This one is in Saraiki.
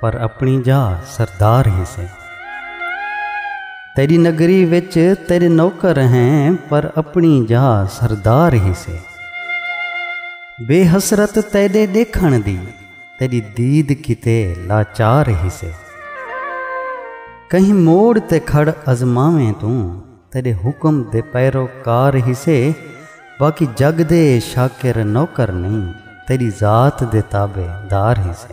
پر اپنی جا سردار ہی سے تیری نگری وچ تیرے نوکر ہیں پر اپنی جا سردار ہی سے بے حسرت تیرے دیکھن دی تیری دید کتے لاچار ہی سے کہیں موڑ تے کھڑ ازماویں تو تیرے حکم دے پیروکار ہی سے باقی جگ دے شاکر نوکر نہیں تیری ذات دے تابے دار ہی سے